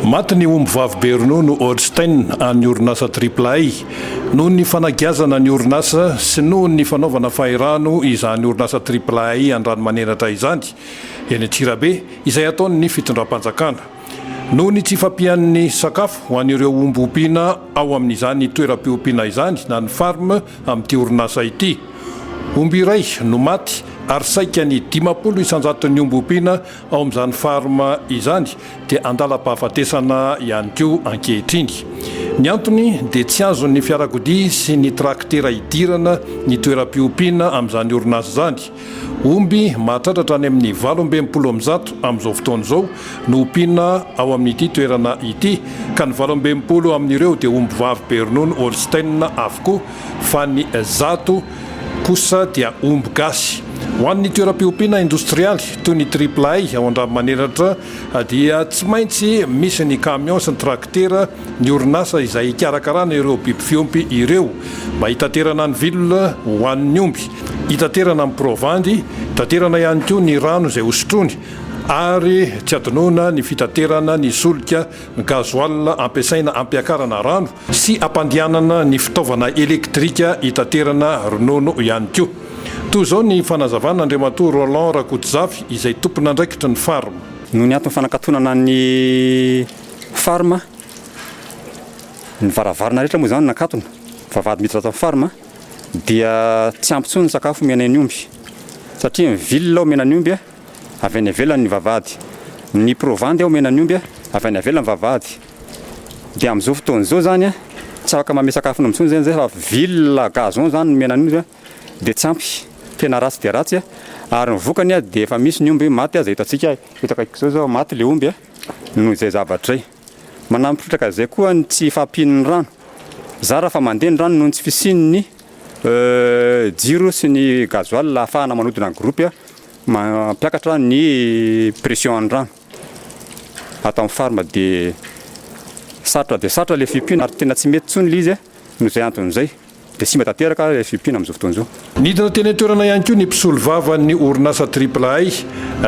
Maty ny ombivavy be ronono Holstein an'ny orinasa Triple-A noho ny fanagiazana ny orinasa sy noho ny fanaovana fahirano izany orinasa Triple-A Andranomanenatra izany eny Antsirabe izay ataon'ny fitondram-panjakana noho ny tsy fampian'ny sakafo ho an'ireo omby ompiana ao amin'izany toeram-piompiana izany na ny farm amin'ity orinasa ity. Omby iray no maty ary saika ny dimampolo isan-jaton'ny omby ompiana Ao amin'izany Farm izany dia andalam-pahafatesana ihany koa ankehitriny. Ny antony dia tsy azon'ny fiarakodia sy ny trakitera idirana ny toeram-piompiana amin'izany orinasa izany. Omby mahatratratra any amin'ny valo amby enimpolo amin'ny zato amin'izao fotoana izao no ompiana ao amin'ity toerana ity ka ny valo amby enimpolo amin'ireo dia ombivavy be ronono Holstein avokoa fa ny zato kosa dia omby gasy. Ho an'ny toeram-piompiana indostrialy toy ny Triple A ao Andranomaniratra dia tsy maintsy misy ny camion sy ny trakitera, ny orinasa izay hikarakarana ireo biby fiompy ireo mba hitaterana ny vilona ho an'ny omby, hitaterana ny provandy, hitaterana ihany koa ny rano izay hosotroiny ary tsy adinoina ny fitaterana ny solika, ny gasoil ampiasaina hampiakarana rano sy ampandehanana ny fitaovana elektrika hitaterana ronono ihany koa. Toa izao ny fanazavana Andriamatoa Roland Rakotozafy izay tompon'andraikitry ny Farm. Noho ny antony fanakatonana ny Farm, ny varavarana rehetra moa izany nakatona, vavahady miditra ato amin'ny Farm, dia tsy ampy intsony ny sakafo omena eny omby satria ny ville omena ny omby avy any ivelany ny vavahady, ny provandy omena ny omby avy any ivelany vavahady. Dia amin'izao fotoana izao izany, tsy afaka manome sakafo an'omby intsony izay fa ville gazon izany no omena an'omby dia tsy ampy, tena ratsy dia ratsy. Ary ny vokany dia efa misy ny omby maty aza eto antsika, eto akaikiko izao izao maty ilay omby noho izay zavatra izay. Manamipritaka an'izay koa ny tsy fahampian'ny rano. Zara fa mandeha ny rano noho ny tsy fisian'ny jiro sy ny gasoil ahafahana manodina ny gropy mampiakatra ny pression an'ny rano. ato amin'ny farm dia sarotra dia sarotra ilay fiompiana ary tena tsy mety intsony ilay izy noho izay antony izay dia simba tanteraka ilay fiompiana amin'izao fotoana izao. Nidina teny an-toerana ihany koa ny mpisolovavan'ny orinasa Triple Hay,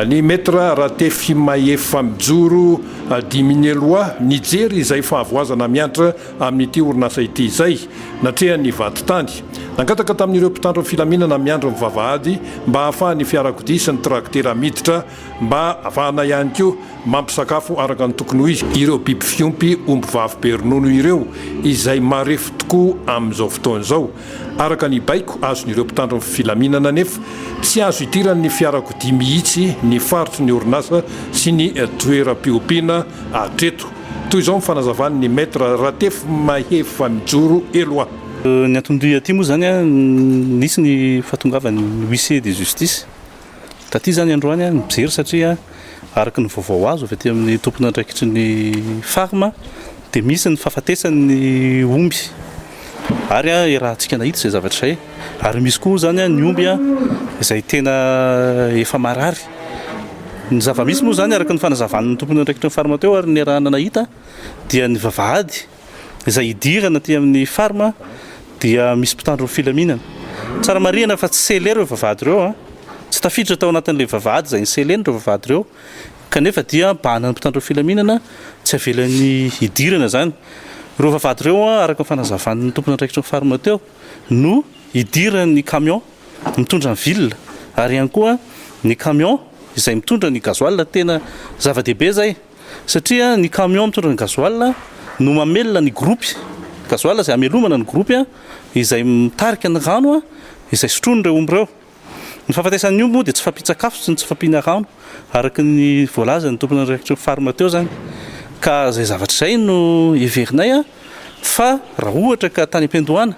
ny Maître Ratefimahefa Mijoro Dimineloa nijery izay fahavoazana miantra amin'ity orinasa ity izay natrehan'ny vadintany. Nangataka tamin'ireo mpitandro ny filaminana miandry ny vavahady mba hahafahan'ny fiarakodia sy ny trakitera miditra mba hahafahana ihany koa mampisakafo araka ny tokony ho izy ireo biby fiompy ombivavy be ronono ireo izay marefo tokoa amin'izao fotoana izao. Araka ny baiko azon'ireo mpitandro ny filaminana anefa, tsy azo idiran'ny fiarakodia mihitsy ny faritry ny orinasa sy ny toeram-piompiana hatreto. Toy izao ny fanazavan'ny Maître Ratefy Mahefa Mijoro Eloi. Ny anton-dia aty moa izany, nisy ny fahatongavan'ny huissier de justice. Taty izany androany aho nijery satria araka ny vaovao azo avy aty amin'ny tompon'andraikitry ny Farm dia misy ny fahafatesan'ny omby ary iarahantsika nahita izay zavatra izay ary misy koa izany ny omby izay tena efa marary. Ny zava-misy moa izany araka ny fanazavan'ny tompon'andraikitry ny Farm teo ary niarahana nahita dia ny vavahady izay hidirana aty amin'ny Farm dia misy mpitandro ny filaminana. Tsara marihana fa tsy scellé ireo vavahady ireo an! Tsy tafiditra tao anatin'ilay vavahady izay ni-scellé-ny ireo vavahady ireo kanefa dia bahanan'ny mpitandro ny filaminana tsy havelany hidirana izany. Ireo vavahady ireo an, araka ny fanazavan'ny tompon'andraikitry ny Farm teo no hidiran'ny camion mitondra ny villa ary ihany koa ny camion izay mitondra ny gasoil. Tena zava-dehibe izay. satria ny camion mitondra ny gasoil no mamelona ny gropy gasoil izay hamelomana ny gropy izay mitarika ny rano izay sotroin'ireo omby ireo. Ny fahafatesan'ny omby moa dia tsy fampian-tsakafo sy ny tsy fampiana rano araka ny voalazan'ny tompon'ny réaction farm teo izany ka izay zavatra izay no heverinay fa raha ohatra ka tany am-piandohana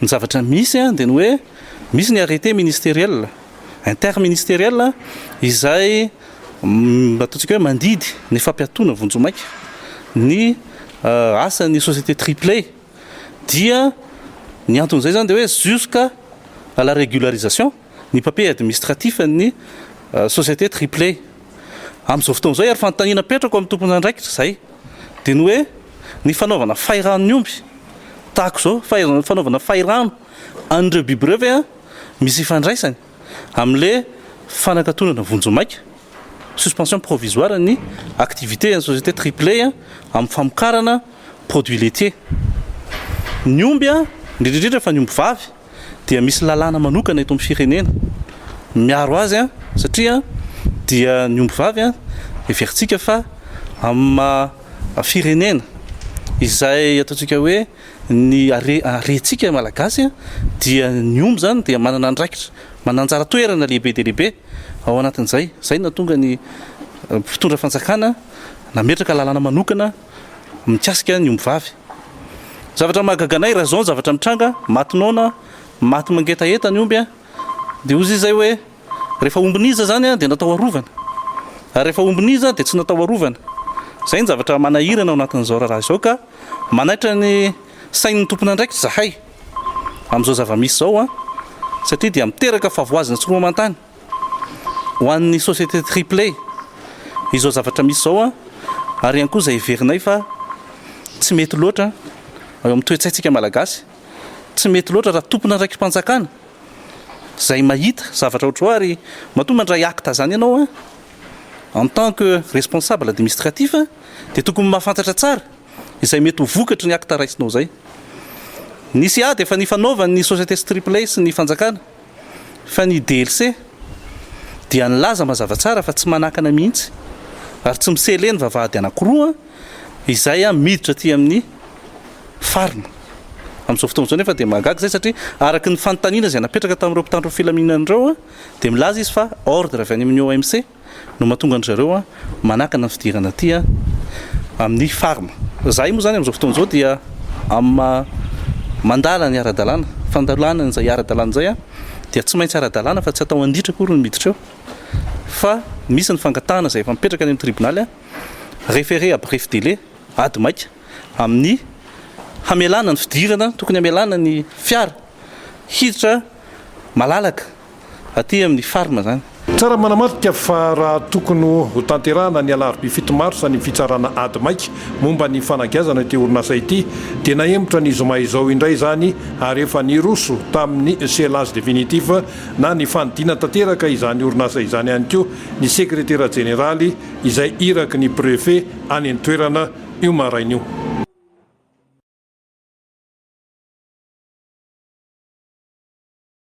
Ny zavatra misy dia ny hoe misy ny arrêté ministériel, interministériel, izay ataontsika hoe mandidy ny fampiatoana vonjimaika ny asan'ny société Triplay dia ny anton'izay izany dia hoe jusqu'à la régularisation ny papier administratif an'ny société Triplay. Amin'izao fotoana izao ary fanontaniana apetrako amin'ny tomponandraikitra izay. dia ny hoe ny fanaovana fahirano ny omby tahaka izao, fahirano, fanaovana fahirano an'ireo biby ireo ve an, misy ifandraisany amin'ilay fanakatonana vonjimaika, suspension provisoire, ny activité an'ny société Triplay amin'ny famokarana produits laitiers. Ny omby an, indrindra indrindra fa ny omby vavy, dia misy lalàna manokana eto amin'ny firenena miaro azy satria dia ny ombivavy heverintsika fa amin'ny maha firenena izay ataontsika hoe ny harentsika malagasy dia ny omby izany dia manana andraikitra manana anjara toerana lehibe dia lehibe ao anatin'izay izay no nahatonga ny mpitondra fanjakana nametraka lalàna manokana mikasika ny ombivavy. Zavatra mahagaga anay raha izao ny zavatra mitranga, maty noana, maty mangetaheta ny omby, dia hozy izay hoe, rehefa ombin'iza izany dia natao arovana, ary rehefa ombin'iza dia tsy natao arovana. Izay ny zavatra manahirana ao anatin'izao raharaha izao ka manaitra ny sain'ny tompon'andraikitra izahay amin'izao zava-misy izao, satria dia miteraka fahavoazana tsy roa aman-tany. ho an'ny société Triplé izao zavatra misy izao ary ihany koa izay heverinay fa tsy mety loatra eo amin'ny toe-tsaintsika malagasy, tsy mety loatra raha tompon'andraiki-panjakana izay mahita zavatra ohatr'izao ary matoa mandray acte izany ianao en tant que responsable administratif dia tokony mahafantatra tsara izay mety ho vokatry ny acte raisinao izay. Nisy ady efa nifanaovan'ny société Triplé sy ny fanjakana. Fa ny DLC dia nilaza mazava tsara fa tsy manakana mihitsy ary tsy mi-sceller ny vavahady anankiroa izay miditra aty amin'ny farm. Amin'izao fotoana izao anefa dia mahagaga izay satria araka ny fanontaniana izay napetraka tamin'ireo mpitandro ny filaminana ireo dia milaza izy fa ordre avy any amin'ny OMC. no mahatonga an-dry zareo manakana ny fidirana aty amin'ny Farm. Izahay moa izany amin'izao fotoana izao dia amin'ny maha mandala ny ara-dalàna, fandalana an'izay ara-dalàna izay dia tsy maintsy ara-dalàna fa tsy atao an-ditra akory ny miditra eo fa misy ny fangatahana izay efa mipetraka any amin'ny tribonaly, référé à bref délai, ady maika, amin'ny hamelana ny fidirana tokony hamelana ny fiara hiditra malalaka. aty amin'ny farm izany. Tsara manamarika fa raha tokony hotanterahana ny alarobia fito marsa ny fitsarana ady maika momba ny fanagiazana ity orinasa ity dia nahemotra ny zoma izao indray izany ary efa niroso tamin'ny scellage définitif na ny fanidina tanteraka izany orinasa izany ihany koa ny sekretera jeneraly izay iraky ny prefet any an-toerana io maraina io.